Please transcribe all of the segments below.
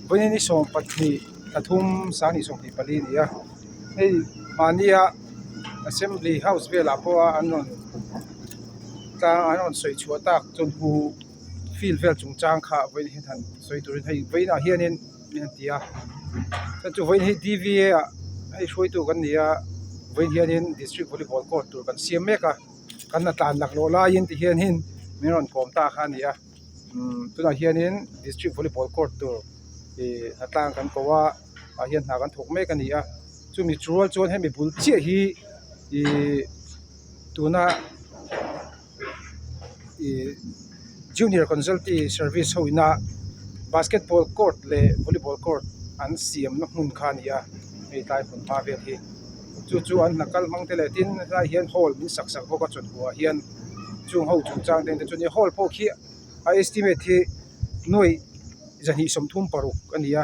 Puini ni sawm pahnih pathum sang ni sawm pali a ni a hei mahnia assembly house velah pawha an rawn tlang an rawn sawi chhuah tak chawlhbuk field vel chungchang kha vawiin a than sawi turin hei vawiinah hianin-- a ti a chuan chu vawiin hei dva ah hei hruaitu kan ni a vawiin hianin district volleyball court tur kan siam mek a kan la tlan lakloh laiin ti hian hei min rawn kawm ta kha a ni a umm tunah hianin district volleyball court tur ihh a tlan kan ko a ah hian hna kan thawk mek a ni a chumi tial chuan hemi bul chiah hi ihh tuna-- ihh junior kawnzawlti service ho ina basketball court leh volleyball court an siamna hmun kha a ni a hei tlai hmun hma vel hi chu chu an hna kal hmang te leh tin a tlaiah hian hall min sak sak bawk a chawlhbua ah hian chung ho chung chang te an ti a chuan i hall pawh khi a estimate hi nuaih zahnih sawmthum paruk a ni a.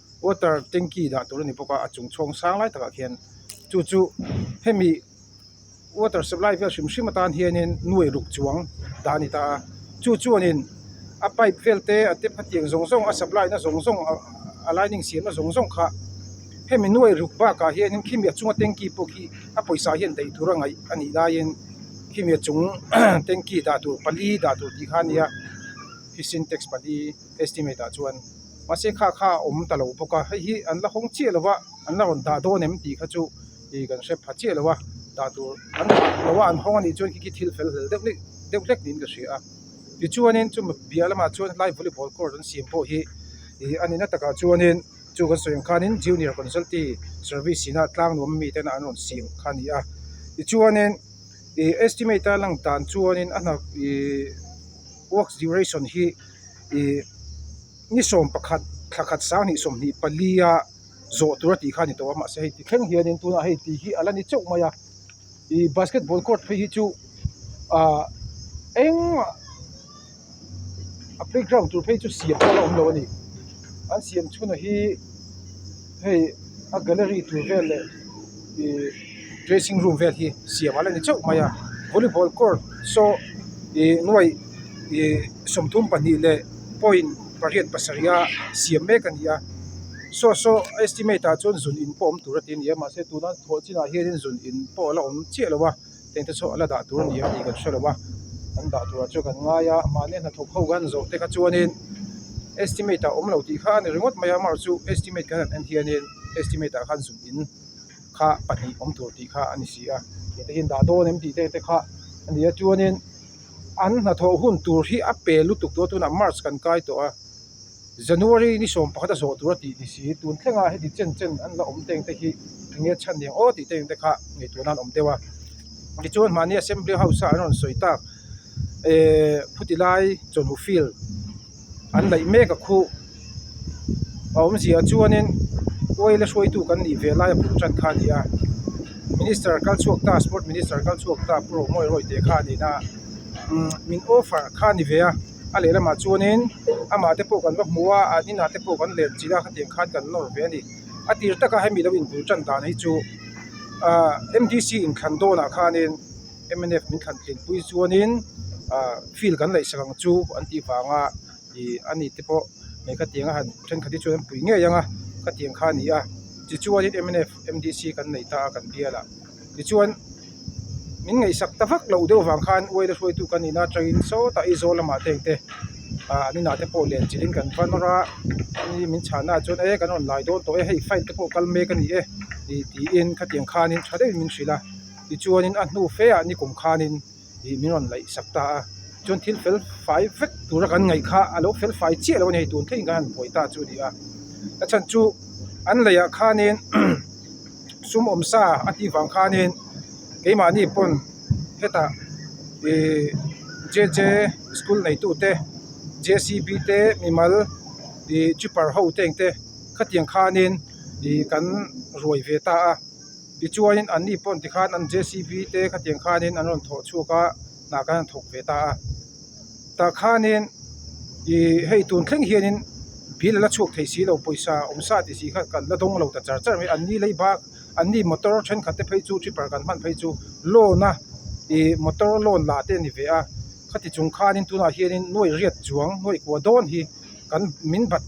water tanky dah tur a ni bawk a a chung chhawng sang lai takah khian chu chu hemi water supply vel hrim hrim atan hianin nu ei ruk chuang dah a ni ta a chu chuanin a pipe vel te a tap a tiang zawng zawng a supply na zawng zawng ah a lining siam na zawng zawng kha hemi nu ei ruk bak ah hianin khimi a chunga tanky pawh khi a pawisa hian daih tur a ngaih a nih laiin khimi a chung tanky dah tur pali dah tur tih kha a nia khi sintex pali estimate ah chuan-- mahse kha kha a awm ta lo bawk a hei hi an la hawng chiah lova an la rawn dah dawn em tih kha chu ih kan hre pha chiah lova dah tur an dah lova an hawng a nih chuan khi khi thil fel hlel deuh hlek deuh hlek niin ka hria a tichuanin chu piah lamah chuan helai volleyball court an siam pawh hi ih a nihna takah chuanin chu kan sawi ang khanin junior consultanty service ina tlang nuam mi tena an rawn siam kha a ni a tichuanin ih estimate a lang dan chuanin a hnak ihh works duration hi-- ih ni sawm pakhat thla khat sang hnih sawm hnih pali a zawh tura tih kha a ni tawh a mahse hei ti thleng hianin tunah hei ti hi a la ni chauh mai a ih basketball court phei hi chu ah eng mah a playground tur phei chu siam kual a awm lo a ni an siam chhunah hi-- Hei a gallery tur vel leh ihh dressing room vel hi siam ala ni chauh mai a volleyball court saw ihh nuai ihh sawmthum pahnih leh point pariat pasarih a siam mek a ni a saw saw a estimate ah chuan zun in pawh awm tur a ti a ni a mahse tuna thawh chinah hian zun in pawh ala awm chiah lo a. Heng te chu a la dah tur ni ang tih kan hre lo a, an dah turah chuan kan ngai a, mahni hnathawk ho kan zawh te kha chuanin estimate ah awm lo tih kha a ni ringawt mai a, amaherawh chu estimate kan han en hianin estimate ah khan zun in kha pahnih awm tur tih kha a ni si a, heti hian dah dawn em tih te te kha a ni a, chuanin an hnathawh hun tur hi a pe lutuk dawn tûn a march kan kai tawh a. January ni sawm pakhata zawh tura tih ni si. Tun thlengah heti chen chen an la awm teng te hi enge chhan ni ang aw tih te in te kha ngeitur nan awm deuh a. Tichuan mahni Assembly House-a an rawn sawi tak eeh khutilai chawlhu field an laih mek a khu a awm zia chuanin oil a hruaitu kan nih ve laia pung chan kha a ni a. Minister kal chhuak ta Sport Minister kal chhuak ta Pu Romawii Roi te kha a nihna umm min awfar kha a ni ve a. a lehlamah chuanin amahte pawh kan va hmu a an inah te pawh kan leh chilh a hetiang khan kan nawr ve a ni a tir takah hemi lo inbul tan dan hi chu ah mdc inthlan dawnah khanin mnf min thlan tlinpui chuanin ah field kan laih sak ang chu an tih vanga ih a ni te pawh mai ka tianga han thenkhat hi chuan an pui ngei anga ka tiang kha nia tichuan in mnf mdc kan nei ta a kan bialah. tichuan min ngaihsak ta vak loh deuh vang khan uaina hruaitu kan nih na atangin sawtah Aizawl lamah te engte ah an inah te pawh lian chilhin kan va nawr a hemi min chhahna ah chuan e kan rawn lai dawn tawh e hei file te pawh kal mek a ni e tih tiin khatiang khanin tha deuhin min hrilh a tichuanin a hnu fe ah nikum khanin-- ih min rawn laih sak ta a, chuan thil fel fai vek tura kan ngaih kha a lo fel fai chiah lo a ni, hei tun theihin kan han buai ta chu a ni a, a chhan chu an laih ah khanin sumawm sa a tih vang khanin keimahni pawn heta ih JJ school neitu te, JCB te, mimal ih chipper ho te eng te khatiang khanin ih kan ruai ve ta a. Tichuanin an ni pawn tikhan an jcb te khatiang khanin an rawn thawh chhuak a, hnah khan an thawk ve ta a. Tah khanin ih hei tun thleng hianin bia la chhuak thei silo pawisa awm sa tih si kha kan la dawng lo ta char char mai. An ni lei bak, an ni motor thenkhat te phei chu chhipper kan hman phei chu loan a ih motor loan la te a ni ve a. Khati chung khanin tunah hianin nuaih riat chuang nuaih kua dawn hi-- kan min bat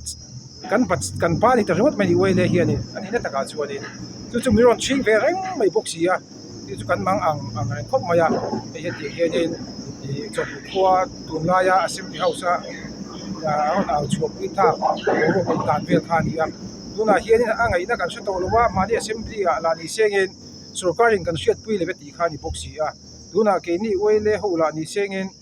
kan bat kan pa ani ta ringawt mai ni uaile hian in a nihna takah chuan in chu chu min rawn chhing ve reng mai bawk si a chu chu kan mang ang ang reng khawp mai a hei hetih hian in ihh chawlhbuk khua tun laia assembly house a aa rawn au chhuak pui thlak a lo rawn intan vel kha a ni a tunah hian in a ngaihna kan hre tawh lo va mahni assembly ah la ni sengin sorkarin kan hriat pui leh vek tih kha a ni bawk si a tunah keini uaile ho lah ni sengin--